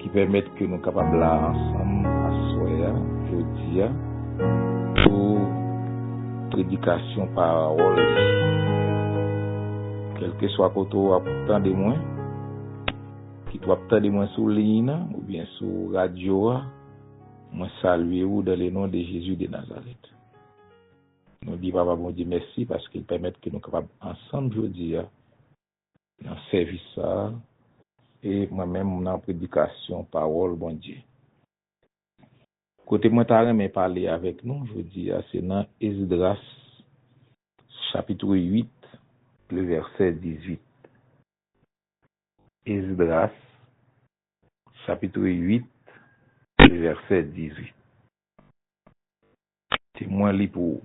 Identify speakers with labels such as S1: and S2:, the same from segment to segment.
S1: ki pèmèt ke nou kapab la ansanm aswè a, jodi a, pou predikasyon Pawòl Li. Kèlkeswa kote w ap tande mwen, kit w ap tande mwen sou liy nan oubyen sou radyo a, mwen salye ou dan le non de Jezi de Nazarèt. Nou di Papa Bondye mèsi paske L pèmèt ke nou kapab ansanm jodi a Nan sèvis sa a, e mwen menm nan predikasyon pawòl Bondye. Kote mwen ta renmen pale avèk nou jodi a se nan Esdras chapitre 8 le vèsè 18. Esdras chapitre 8 le vèsè 18. Te mwen li pou ou.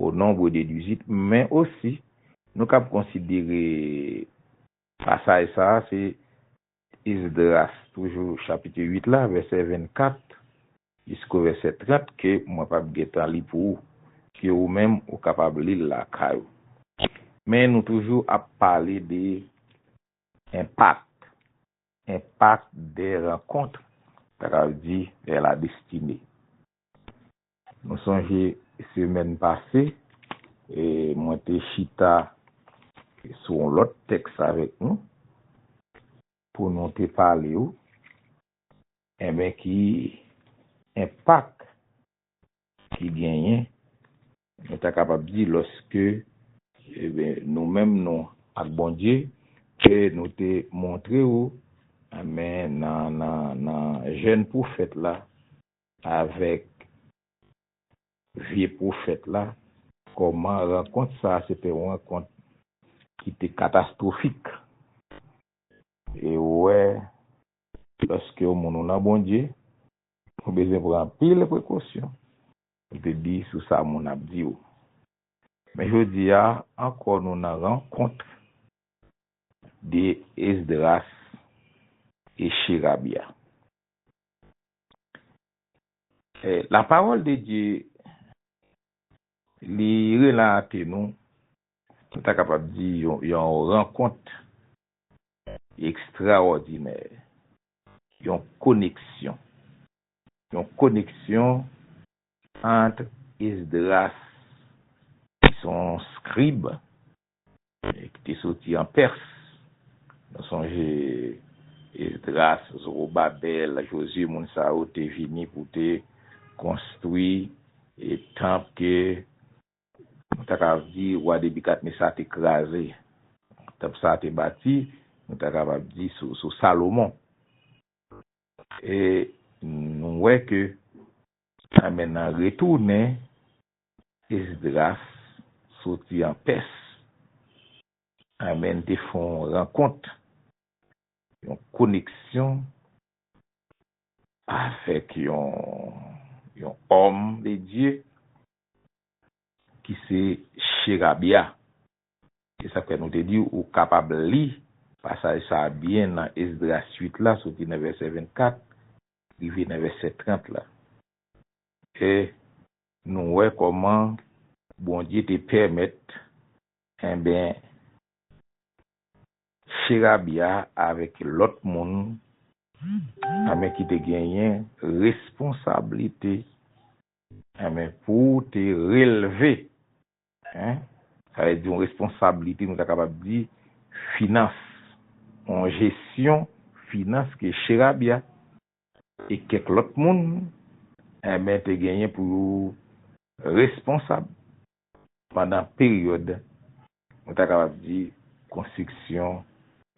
S1: Au nombre de duzit, men osi, nou kab konsidere pasaj sa a se Esdras toujou chapitre 8 la, vèsè 24 jisko vèsè 30 ke mwen p ap gen tan li pou ou, ke ou menm ou kapab li l lakay ou. Men nou toujou ap pale de impact, impact des rencontres, ta kab di vers la destinée. Nou sonje semèn pase, mwen te chita sou yon lòt tèks avèk nou, pou nou te pale ou, enben ki enpak ki genyen, nou ta kapab di lòske nou menm nou ak Bondye, ke nou te montre ou nan jèn pwofèt la, Avèk vye pwofèt la, kòman rankont sa a se te yon rankont ki te katastwofik. E ou wè, lòske ou moun ou nan Bondye, ou bezwen pran anpil prekosyon pou te di sou sa moun ap di ou. Men jodi a ankò nou nan rankont de Esdras e Cherabya. La pawòl de Dye li relate nou, nou ta kapab di yon rankont ekstrawòdinè, yon koneksyon, yon koneksyon ant Esdras ki son skrib e ki te soti an Pès. Nou sonje Esdras, Zowobabèl, Jozye, moun sa yo te vini pou te konstwi tanp ke nou ta kapab di wa Nebikadnesa te kraze. Tanp sa a te bati, nou ta kapab di, sou Salomon. E nou wè ke sa mennen retounen Esdras soti an Pès, Amèn te fè yon rankont, yon koneksyon avèk yon yon òm de Dye ki se Cherabya. Se sa k fè nou te di ou kapab li pasaj sa a byen nan Esdras 8 la soti nan vèsè 24 rive nan vèsè 30 la. E Nou wè kòman Bondye te pèmèt enben Cherabia avèk lòt moun enben ki te genyen responsablite enben pou te relve en sa vle di yon responsablite nou ta kapab di finans yon jesyon finans ke Cherabia e kèk lòt moun enben te genyen pou yo responsab pandan peryòd nou ta kapab di konstriksyon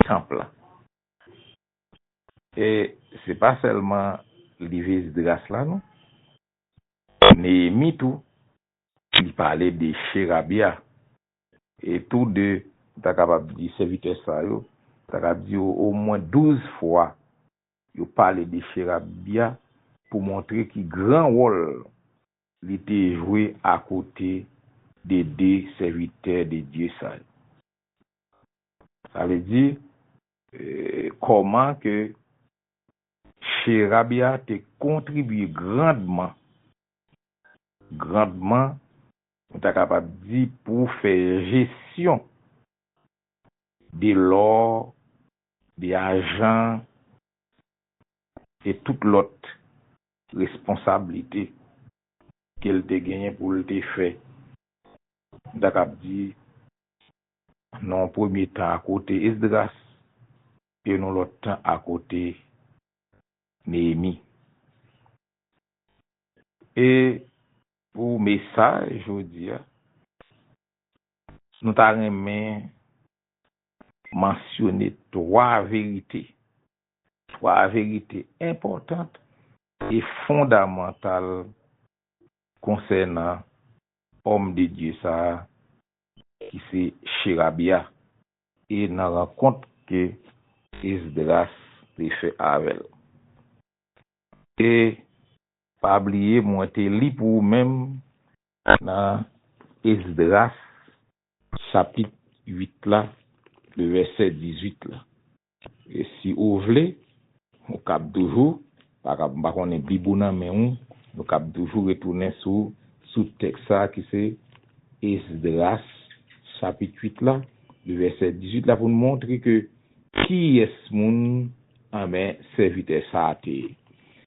S1: tanp lan. E se pa sèlman liv Esdras la non. Neyemi tou li pale de Cherabya e tou de nou ta kapab di sèvitè sa yo ta ka di omwen douz fwa Yo pale de Sherabia pou montre ki gran wòl li te jwe akote de de sèvitè de Dye sa yo. Sa vle di, kòman ke Sherabia te kontribye grandman, grandman, nou ta kapab di, pou fè jesyon de lò 2 ajan e tout lòt responsablite ke l te genyen pou l te fè, m ta kab di, nan yon premye tan akote Esdras e yon lòt tan akote Neyemi. E pou mesaj jodi a, nou ta renmen Mansyone twa verite. Twa verite enpòtant e fondamantal konsènan òm de Dye sa a ki se Cherabiya e nan rankont ke Esdras te fè avè l. E pa bliye mwen te li pou ou menm nan Esdras Chapit 8 la, vèsè 18 la. E si ou vle, ou kab toujou, pa kab, m pa konnen Bib ou nan men ou, nou kab toujou retounen sou, sou tèks sa a ki se Esdras chapit 8 la, vèsè 18 la pou n montre ke kiyès moun, anben, sèvitè sa a te ye.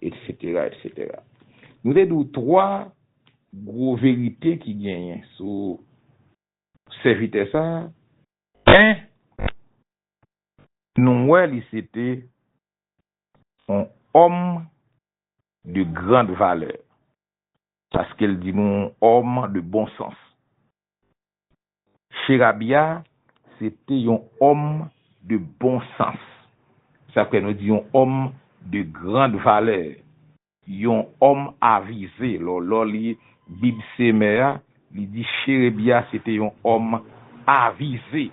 S1: Etsetera, etsetera. Nou te di w twa gwo verite ki genyen sou sèvitè sa a. 1, Nou wè li se te yon òm de grand valè, paske l di nou yon òm de bon sans. Sherabia se te yon homme de bon sens. Sa fè nou di yon homme de grande valeur. Yon homme avize. Lè w li Bib Semè a, li di Sherebia se te yon homme avize.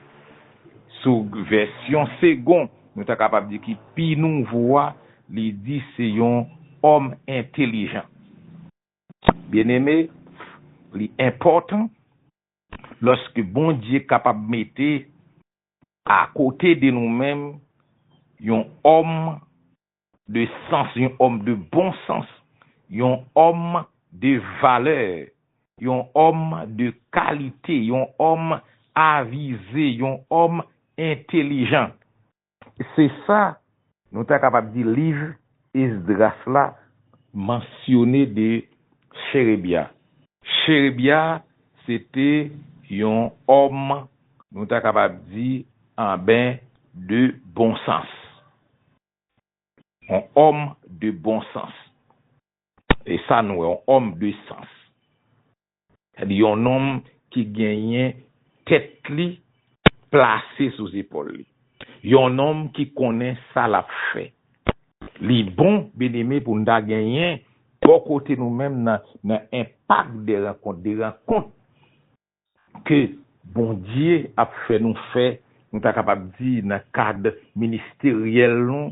S1: Sou vèsyon segon, nou ta kapab di ki pi nouvo a, li di se yon homme entelijan. Byeneme, li enpòtan lòske Bondye kapab mete akote de nou menm yon òm de sans, yon òm de bon sans, yon òm de valè, yon òm de kalite, yon òm avize, yon òm entelijan. Se sa nou ta kapab di liv Esdras la mansyone de Cherebya. Cherebya se te yon òm nou ta kapab di anben de bon sans. Yon òm de bon sans. E sa nou wè, yon òm de sans. Gade yon nonm ki genyen tèt li plase sou zepòl li. Yon nonm ki konnen sa l ap fè. Li bon, byeneme, pou n ta genyen bò kote nou menm nan enpak de rankont, de rankont ke Bondye ap fè nou fè, nou ta kapab di nan kad ministeryèl nou,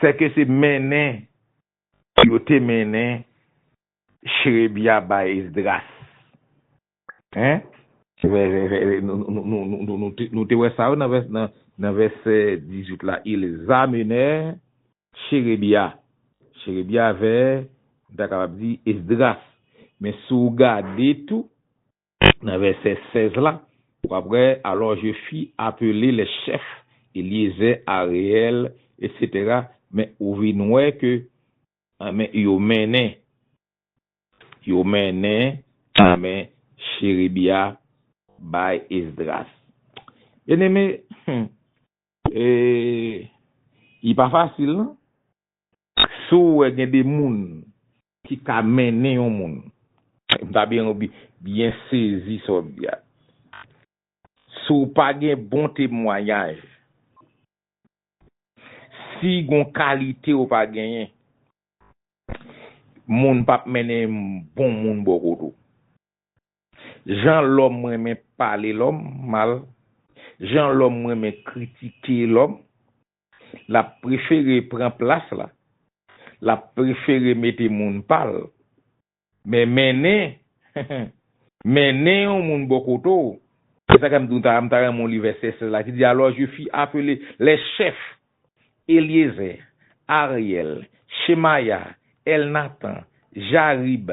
S1: Sèke se mennen yo te mennen Cherebya bay Esdras. Nou te wè sa wi nan vèsè 18 la, ils amenèrent Cherebya. Cherebya vè, nou ta kapab di, Esdras. Men si w gade tou, nan vèsè 16 la, w ap wè, Alò je fi apele lè chèf, Elyezè, Areyèl, etsetera, men ou vin wè ke, anmè, yo mennen, yo mennen, anmè, Cherebya bay Esdras. Byeneme, hum, e, li pa fasil, non. Si w wè gen de moun Ki ka mennen yon moun. M ta byen ou byen sezi sa w di a. Si w pa gen bon temwanyaj, si gon kalite ou pa genyen, moun pap mennen bon moun bò kote w. Jan lòm renmen pale lòm mal, jan lòm renmen kritike lòm, L ap prefere pran plas la. L ap prefere mete moun pa l. Men mennen, mennen yon moun bò kote w. Se sa k fè m di w ta m ta renmen w li vèsè 16 la ki di, Alò, je fis apele lè chèf, Elyezè, Aryèl, Chemaya, Èlnatan, Jarib,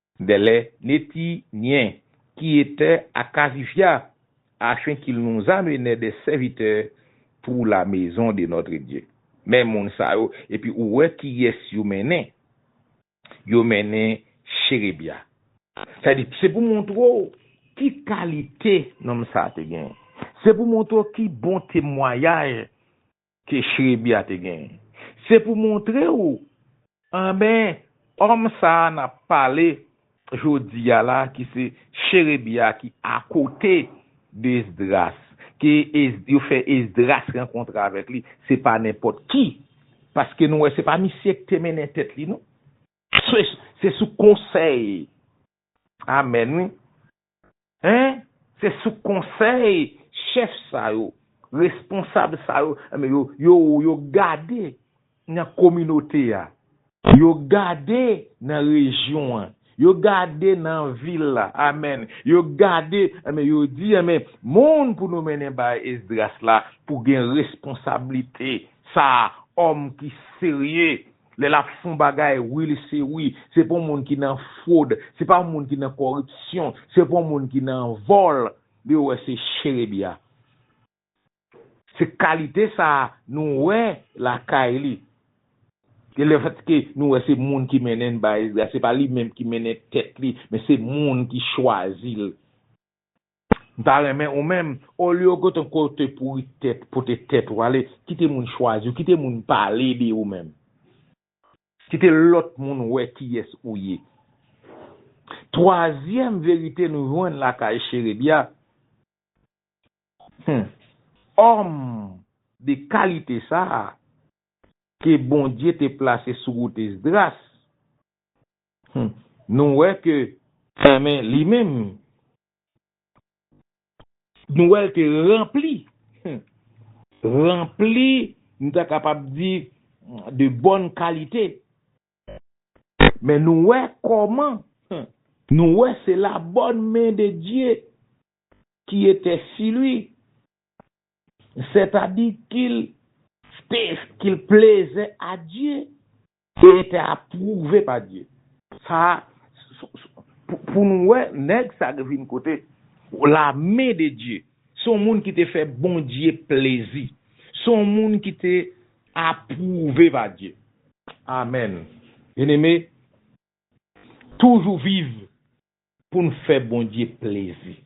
S1: Dèlè neti nyen ki etè a kazifya afen kil nou zamenè dè sèvitè pou la mezon de nòtre Dye. Men moun sa yo, epi ou wè ki yès yo mennen, yo mennen Cherebya. Sa di, se pou montre w ki kalite nonm sa te genyen. Se pou montre w ki bon temwayaj Ke chrebi a te genyen. Se pou montre ou anben òm sa a nap pale jodi a la ki se cherebi a ki akote de esdras ke yo fè esdras rankontre avèk li se pa nenpòt ki paske nou wè se pa misye ki te mennen tèt li non se sou konsèy amèn wi Hein se sou konsèy chèf sa yo responsab sa yo yo gade nan kominote a yo gade nan rejyon an yo gade nan vil la amen yo gade enben yo di enben moun pou nou mennen bay Esdras la pou gen responsablite sa òm ki serye Lè lap fon bagay wi li se wi, se pa yon moun ki nan fwod, se pa yon moun ki nan kòripsyon, se pa yon moun ki nan vòl, li wè se Cherebya. Se kalite sa a nou wè lakay li. E le fèt ke nou wè se moun ki mennen Baezga, se pa li menm ki mennen tèt li, men se moun ki chwazi l. M ta renmen ou menm, olye w gentan kote pouri tèt, pote tèt ou ale, kite moun chwazi w, kite moun pale de ou menm. Kite lòt moun wè kiyès ou ye. Twazyèm verite nou jwenn lakay Cherebya, Hum, òm de kalite sa a ke Bondye te plase sou wout Esdras, Humm nou wè ke Enben li menm Nou wè l te ranpli Humm ranpli nou ta kapab di de bòn kalite Men nou wè kòman Humm nou wè se la bòn men de Dye ki etè si li Sètadi ki l Sètadi ki l plezè a Dye E tè a prouve pa Dye. Sa a pou nou wè nèg sa k vin kote. La men de Dye. Se yon moun ki te fè Bondye plezi. Se yon moun ki te apwouve pa Dye. Amèn. Byeneme, toujou viv pou n fè Bondye plezi.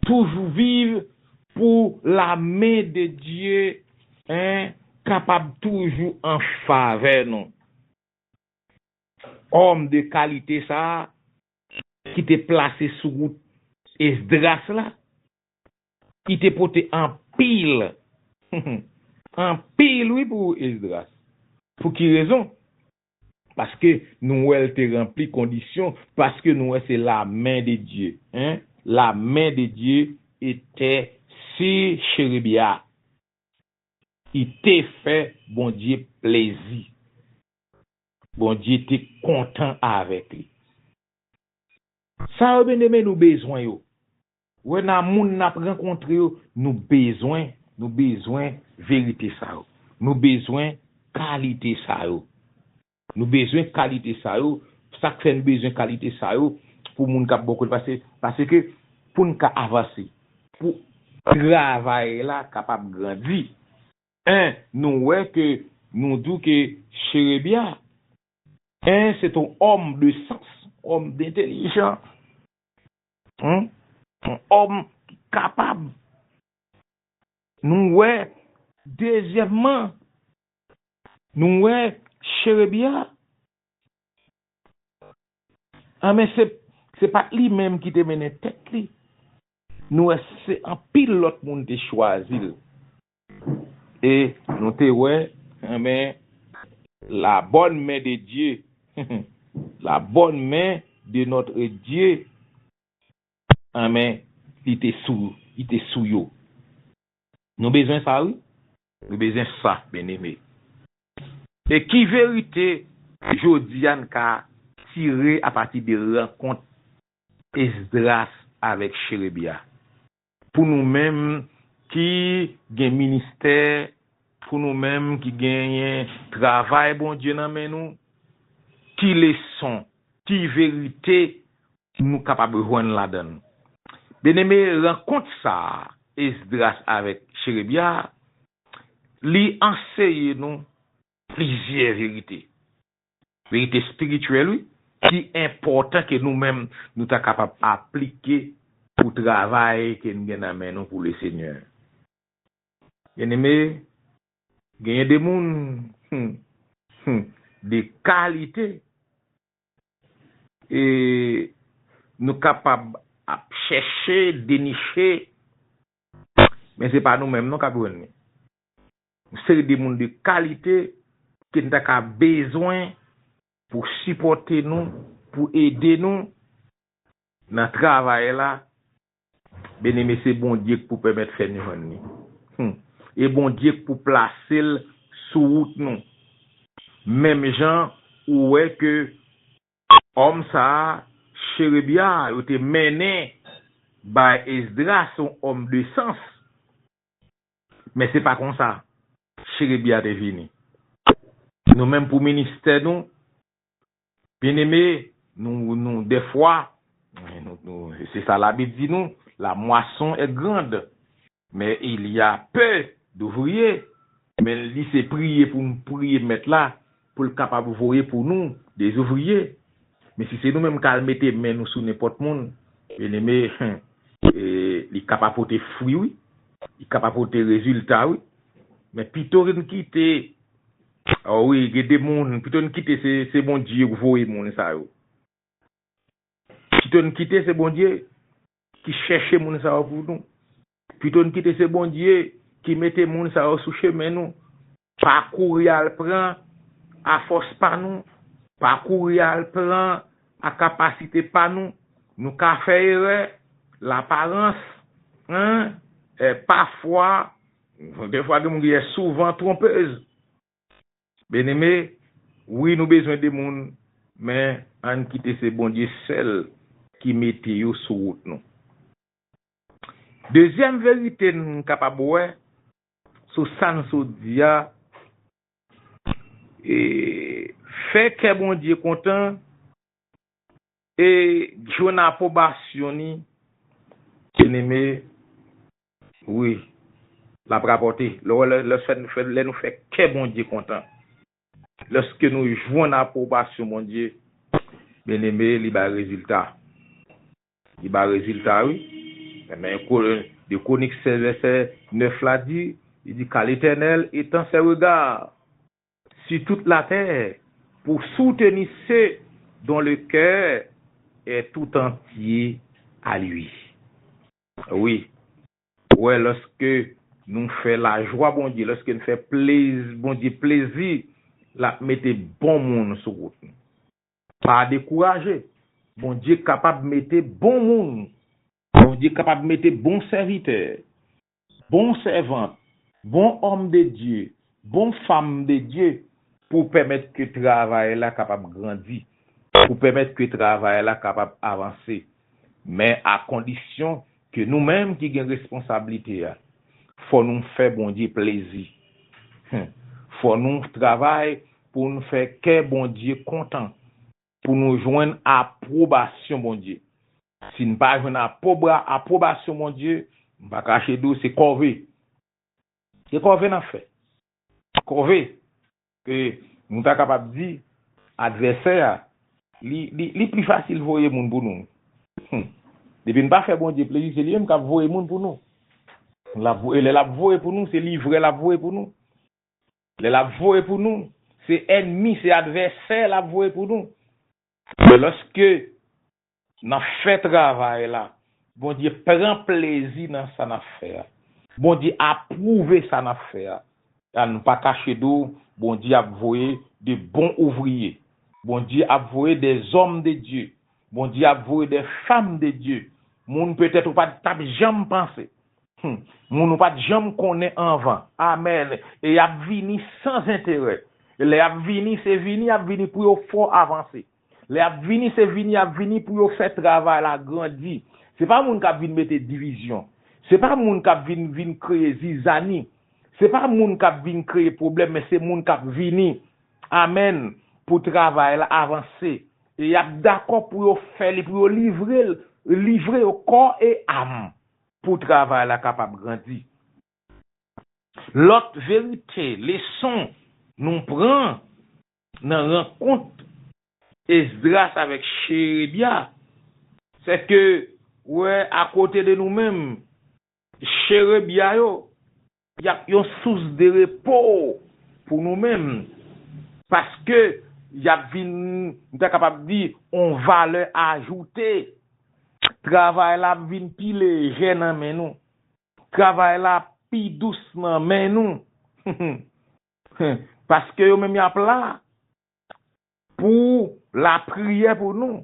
S1: Toujou viv pou la men de Dye en kapab toujou an favè nou. Òm de kalite sa a ki te plase sou wout Esdras la, ki te pote anpil, anpil wi pou Esdras. Pou ki rezon? Paske nou wèl te ranpli kondisyon paske nou wè se la men de Dye hein la men de Dye etè su cherubia i te fè Bondye plezi Bondye te kontan avèk li sa yo bndeme nou bezwen yo Wè nan moun nap rankontre yo nou bezwen nou bezwen verite sa yo nou bezwen kalite sa yo nou bezwen kalite sa yo sak fè nou bezwen kalite sa yo pou moun kap bò kote pase paseke poun ka avanse pou travay la kapab grandi 1 nou wè ke nou di w ke Cherebya 1 se t on òm de sans òm dentelijan Hum on homme ki kapab nou wè. Dezyèmman, nou wè Cherebia an men se pa t li menm ki te mennen tèt li, nou wè se anpil lòt moun te chwazi l E nou te wè, enben, la bòn men de Dye, la bòn men de notre Dye, enben, li te sou, li te sou yo. Nou bezwen sa wi. Nou bezwen sa, byeneme. E ki verite jodi a n ka tire apati de rankont Esdras avèk Cherebya? Pou nou menm ki gen ministè, pou nou menm ki genyen travay Bondye nan men nou, ki leson, ki verite nou kapab jwenn ladan l? Byeneme, rankont sa a Esdras avèk Cherebya a, li anseye nou plizyè verite. Verite spirityèl wi ki enpòtan ke nou menm nou ta kapab aplike pou travay ke n gen nan men nou pou Lesenyè. Byeneme, genyen de moun, hum, hum, de kalite e nou kapab ap chèche, deniche, men se pa nou menm non k ap jwenn li. Yon seri de moun de kalite ke n ta ka bezwen pou sipòte nou, pou ede nou nan travay la, byeneme se Bondye k pou pèmèt fè n jwenn li. Hum! E Bondye k pou plase l sou wout nou. Menm jan ou wè ke òm sa a, Cherebya a, yo te mennen bay Esdras, yon òm de sans, Men se pa konsa chiribye a te vini. Nou menm pou ministè nou, byeneme, nou dèfwa, se sa labib di nou, la mwason è grand, men il ya pè douvriye, men li se priye pou m priye mèt la, pou l kapab voye pou nou des ouvriye, men si se nou menm k al mete men nou sou nenpòt moun, byeneme, li k ap apote fwi wi, li k ap apote rezilta wi, men pito n kite, o wi, gen de moun, pito n kite se Bondye yo k voye moun sa yo, pito n kite se Bondye. ki chèche moun sa yo pou nou pito n kite se Bondye ki mete moun sa yo sou chemen nou pa kouri al pran a fòs pa nou pa kouri al pran a kapasite pa nou nou ka fè erè laparans en eh pafwa defwa gen moun ki di souvan tronpez Beneme wi nou bezwen de moun men ann kite se Bondye sèl ki mete yo sou wout nou. Dezyèm verite n kapab wè sou sa n sot di a e fè kè Bondye kontan e jwenn apwobasyon ni, Byeneme, Wi. L ap rapòte. Lè w wè lè lè sèn fè lè nou fè kè Bondye kontan, lèske nou jwenn apwobasyon Bondye, byeneme, li bay rezilta. Li bay rezilta, wi. Men ko 2 Kwonik 16 vèsè 9 la di, li di, Ka Letènèl etan sè rega si tout latè pou souteni se don le kè è toutantye a lwi. Wi. Pou wè lòske nou fè lajwa Bondye, lòske n fè plez Bondye plezi, l ap mete bon moun sou wout nou. Pa dekouraje. Bondye kapab mete bon moun. Bondye kapab mete bon sèvitè, bon sèvant, bon òm de Dye, bon fam de Dye pou pèmèt ke travay la kapab grandi, pou pèmèt ke travay la kapab avanse. Men a kondisyon ke nou menm ki gen responsablite a, fò nou fè Bondye plezi. Hum! Fò nou travay pou nou fè kè Bondye kontan, pou nou jwenn apwobasyon Bondye. Si n pa jwenn apwobasyon Bondye, m pa kache di w se kòve. Se kòve n ap fè. Kòve! E nou ta kapab di, advèsè a, li, li, li pi fasil voye moun pou nou. Hum! Depi n pa fè Bondye plezi, se li menm k ap voye moun pou nou. L ap voye, lè l ap voye pou nou, se livrè l ap voye pou nou. Lè l ap voye pou nou, se ènmi, se advèsè l ap voye pou nou. Men lòske Nan fè travay la. Bondye pran plezi nan sa nap fè a. Bondye aprouve sa nap fè a. An nou pa kache do Bondye ap voye de bon ouvriye. Bondye ap voye de zòm de Dye. Bondye ap voye de fam de Dye. Moun petèt ou pat tap janm panse. Hum moun ou pat janm konnen anvan. Amen e yap vini san zenterè. E lè yap vini se vini yap vini pou yo fò avanse. Lè y ap vini, se vini y ap vini pou yo fè travay la grandi. Se pa moun k ap vin mete divizyon. Se pa moun k ap vin vin kreye zizani. Se pa moun k ap vin kreye pwoblèm, men se moun k ap vini, amèn, pou travay la avanse. E y ap dakò pou yo fè li, pou yo livre l, livre yo kò e am pou travay la kapab grandi. Lòt verite, leson, nou pran nan rankont Esdras avèk Cherebya, sèke, wè, akote de nou menm, Cherebya yo, y ap yon sous de repo pou nou menm, paske y ap vin, m ta kapab di, yon valè ajoute. Travay la ap vin pi lejè nan men nou. Travay la ap pi dous nan men nou. Hum paske yo menm yap la pou la priye pou nou.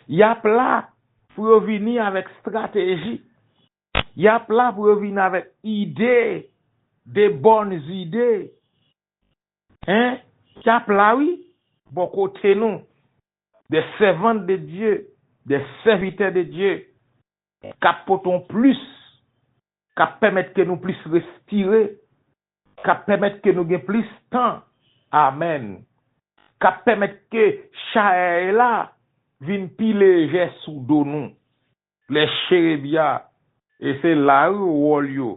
S1: Yap la pou yo vini avek strateji. Yap la pou yo vini avek ide de bonne ide hein yap la wi bo kote nou de servante de Dieu de serviteur de Dieu kap pote yon plus K ap pèmèt ke nou plis respire K ap pèmèt ke nou gen plis tan Amen K ap pèmèt ke chaèy la vin pi lejè sou do nou Lè cherebya e se la wi wòl yo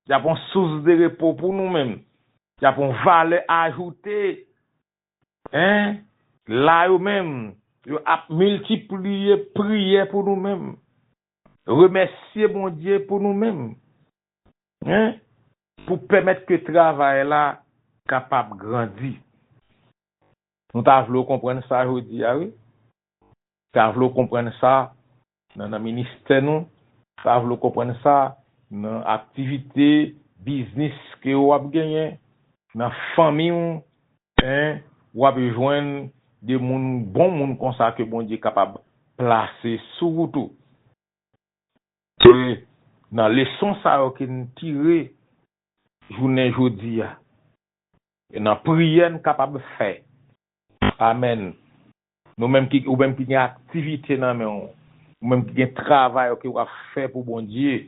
S1: Y ap yon sous de repo pou nou menm Y ap yon valè ajoute en La yo menm yo ap miltipliye priyè pou nou menm Remèsye Bondye pou nou menm hein pou pèmèt ke travay la kapab grandi. Nou ta vle w konprann sa jodi a wi. Ta vle w konprann sa nan nan ministè nou, ta vle w konprann sa nan aktivite biznis ke ou ap genyen, nan fanmi ou, Hein wap jwenn de moun bon moun konsa ke Bondye kapab plase sou wout ou. Se nan leson sa yo ke n tire jounen jodi a. E nan priyè n kapab fè. Amen. Nou menm ki ou menm ki gen aktivite nan men w, ou menm ki gen travay ou ke wap fè pou Bondye,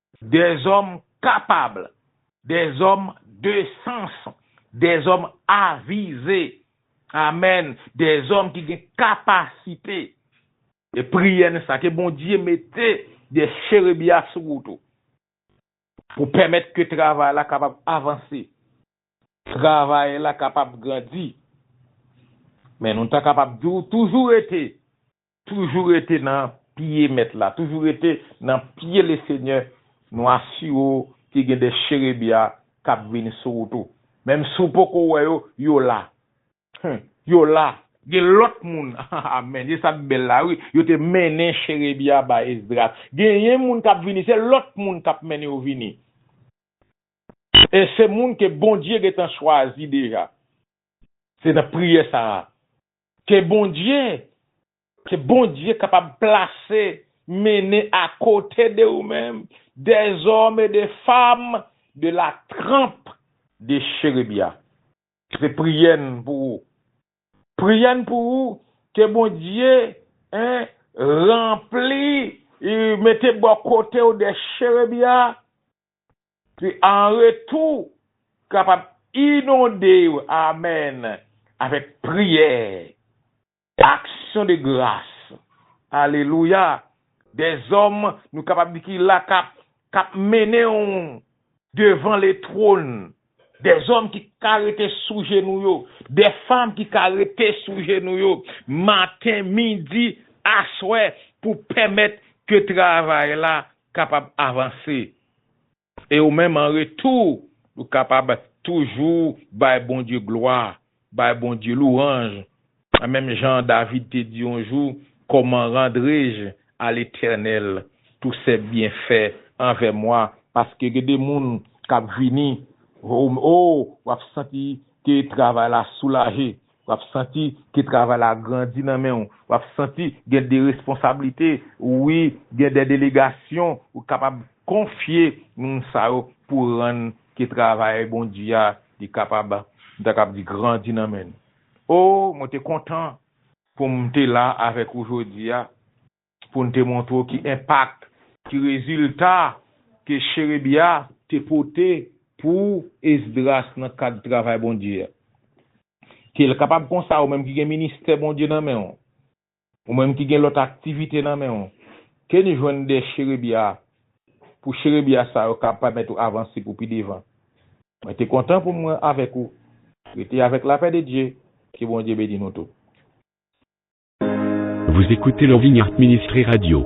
S1: Dèzòm kapab, dèzòm de sans, dèzòm avize, amèn, dèzòm ki gen kapasite. E priyè n sa, ke Bondye mete de cherebia sou ou tou, pou pèmèt ke travay la kapab avanse, travay la kapab grandi. Men nou ta kapab di ou toujou rete Toujou rete nan pye mèt la. Toujou rete nan pye le senyè nou asire w ke gen de cherebia kap vini sou wout ou. Menm si w poko wè yo, yo la. Hum! Yo la! Gen lòt moun, amen, e sa k bèl la wi, yo te mennen cherebia bay Esdras. Genyen moun kap vini, se lòt moun kap mennen yo vini. E se moun ke Bondye gentan chwazi deja. Se nan priyè sa a Ke Bondye, ke Bondye kapab plase, mennen a kote de ou menm, dèzòm e de fam de la tranp de Cherebya. Se priyè n pou ou. Priyè n pou ou, ke Bondye, en, ranpli, mete bò kote ou de Cherebya, ki an retou kapab inonde yo, amèn, avèk priyè, aksyon de gras, alelouya, dèzòm nou kapab di ki la kap mennen w devan letwon Dè zòm ki ka rete sou jenou yo. Dè fanm ki ka rete sou jenou yo, maten, midi, aswè, pou pèmèt ke travay la kapab avanse. E ou menm an retou, ou kapab toujou bay Bondye glwa. Bay Bondye louranj, menm jan David te di yon jou, Kòman randrej a Letènèl tou sè byenfè anvè mwa, paske gen de moun k ap vini, o, o, w ap santi ke travay la soulaje, w ap santi ke travay la grandi nan men ou, w ap santi gen de responsablite, wi, gen de delegasyon ou kapab konfye moun sa yo pou rann Ke travay bon di a li kapab m ta kab di grandi nan men nou. Oh mwen te kontan pou m te la avèk ou jodi a pou n te montre w ki enpak, ki rezilta ke Cherebya te pote pou Esdras nan kad travay Bondye a. Ke l kapab konsa ou menm ki gen ministè Bondye nan men w Ou menm ki gen lòt aktivite nan men ou, Kenny jwenn de cherebya pou cherebya sa yo ka pèmèt ou avanse pou pi devan. Mwen te kontan pou mwen avèk ou. Rete avèk lapè de Dye. Ke Bondye beni nou tout. Vous
S2: écoutez
S1: Lovingheart
S2: Ministry
S1: Radio.